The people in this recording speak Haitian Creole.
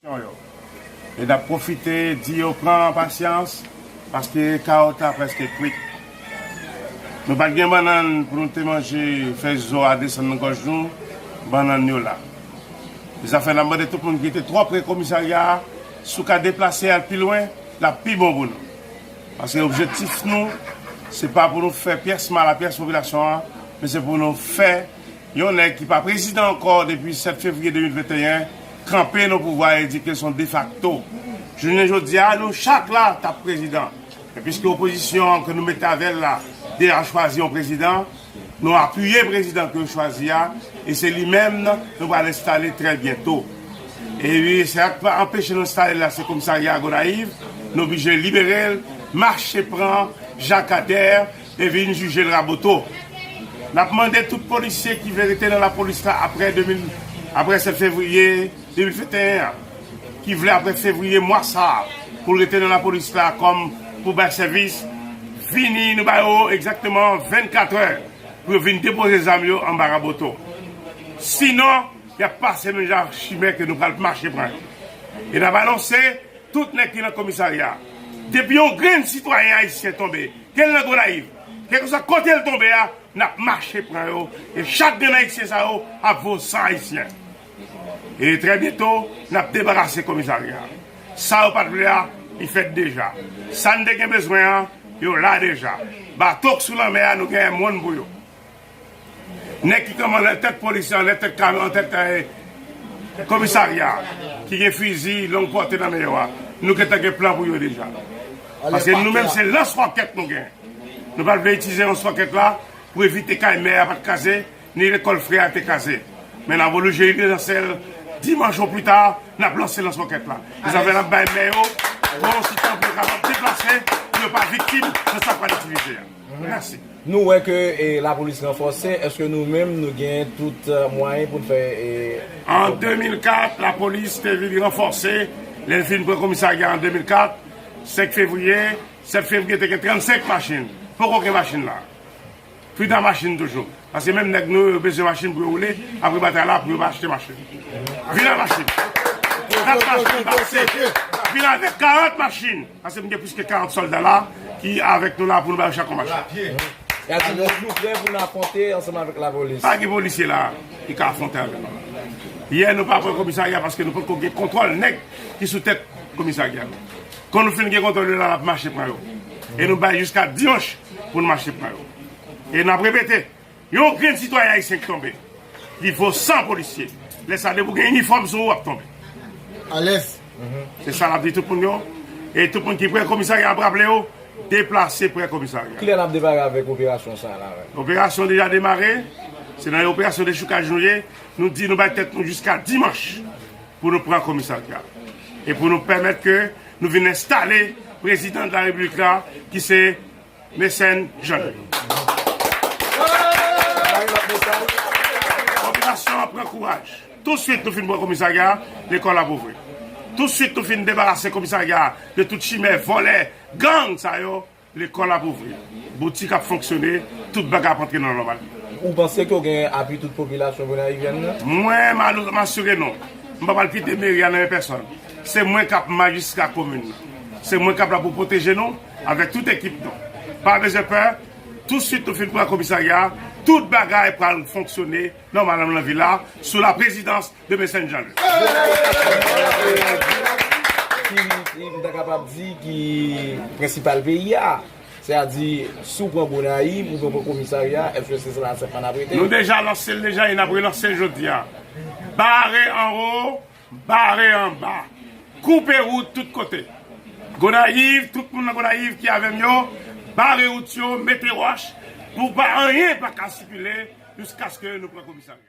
Aksyon yo. E n ap pwofite di yo pran pasyans paske kawòt la prèske kwit. Nou pa t gen bannann pou nou te manje, fèy zo a desann nan gòj nou, bannann yo la. Zafè n ap mande tout moun ki te twò pre komisarya a, si w ka deplase al pi lwen, l ap pi bon pou nou. Paske objektif nou se pa pou nou fè pyès mal a pyès popilasyon an, men se pou nou fè. Yon nèg ki pa prezidan ankò depi 7 fevriye 2021 kanpe nan pouvwa e di ke son defakto. Jounen jodia nou chak la tap prezidan. Men piske opozisyon an ke nou mete avèl la deja chwazi yon prezidan, nou apiye prezidan ke yo chwazi a e se li menm nou pral enstale trè byento. E wi se sak pa anpeche nou enstale l la se komisarya Gonayiv, nou oblije liberel, mache pran Jakadèr. te vin jijel raboto nap mande tout polisye ki vle rete nan lapolis la aprè 2000 aprè 7 fevriye 2021 an ki vle aprè fevriye mwa sa poul rete nan lapolis la kòm pou bay sèvis vini nou ba yo egzakteman 24 è pou yo vin depoze zam yo anba raboto sinon yap pase menm jan ak chimè ke nou pral mache pran yo e nap anonse. Tout nèg ki nan komisarya a. Depi yon grenn sitwayen ayisyen tonbe, ke l nan Gonayiv, kèlkeswa kote l tonbe a, n ap mache pran yo, e chak grenn ayisyen sa yo ap vo san ayisyen. E trè byento, n ap debarase komisarya a. Sa yo pa t vle a, li fèt deja. Sa n te gen bezwen an, yo la deja. Bato k sou lanmè a, nou genyen moun pou yo. Nèg ki kòmande tèt polis lan, anlè tèt kame, antèt komisarya a, ki gen fizi long pòte nan men yo a, nou gentan gen plan pou yo deja. Paske nou menm se lans wòkèt nou gen. Nou pa t vle itilize lans wòkèt la pou evite kay mè a pa t kraze, ni lekòl frè a te kraze. Men nan Volu Jeli de Nansèl, dimanch o pli ta, n ap lanse lans wòkèt la. E sa fè n ap bay mè yo bon ti tan pou yo kapab deplase, pou yo pa viktim nan sa k pral itilize a. Merci. Nou wè ke lapolis ranfòse, eske nou menm nou gen tout mwayen pou n fè yon. An 2004, lapolis te vin ranfòse, lè l fin pran komisarya an 2004, 5 fevriye, 7 fevriye te gen 35 machin, poko gen machin la. Fouta machin toujou, paske menm nèg nou yo bezwen machin pou yo woule, apre batay la pou yo va achte machin. Vin ak machin. 4 machin pase, vin avèk 40 machin. Paske m gen plis ke 40 solda la ki avek nou la pou nou bay yo chak yon mach. Alòs nou prè pou nou afwonte ansanm avek la polis. Pa gen polisye la ki ka afwonte avek nou. Yè nou pa pran komisarya paske nou potko gen kontwòl nèg ki sou tèt komisarya yo. Kon nou fin gen kontwòl yo la nap mache pran yo. E nou bay jiska dimanch pou nou mache pran yo. E nap repete Yon grenn sitwayen ayisyen ki tonbe li vo 100 polisye lè sa depi w gen inifòm sou ou wap tonbe alèz se sa nap di tout moun yo e tout moun ki prè komisarya ap raple yo deplase prè komisarya. Kilè nap demare avèk operasyon sa la menm? Operasyon deja demare se nan yon operasyon dechoukaj nou ye nou di nou bay tèt nou jiska dimanch pou nou pran komisarya e pou nou pèmèt ke nou vin enstale prezidan de la repiblik la ki se Mecène Jean. Popilasyon an pran kouraj. Touswit nou fin pran komisarya a, lekòl ap ouvri. Touswit nou fin debarase komisarya a de tout chimè, vòlè, gang sa yo, lekòl ap ouvri. Boutik ap fonksyone, tout bagay ap antre nan nòmal. Ou panse ke w gen apui tout popilasyon Gonayivyèn nan? Mwen m al asire nou, m p ap al kite meri a nan men pèsòn. Se mwen k ap majistra komin nan. Se mwen k ap la pou pwoteje nou. Avèk tout ekip nou. Pa bezwen pè, tou swit nou fin pran komisarya a, tout bagay pral fonksyone nòmalmn nan vil la, sou la prezidans de Mecène Jean Louis. Ki m ta kapab di ki prensipal peyi a. Se a di, si w pran Gonayiv, oubyen w pran komisarya a, èske se la sèlman n ap rete? Nou deja lanse l deja e n ap relanse l jodi a. Bare anwo! Bare anba. Koupe wout tout kote. Gonayiv, tout moun nan Gonayiv ki avè m yo, bare wout yo, mete wòch pou pa anyen pa ka sikile jiskaske nou pran komisarya.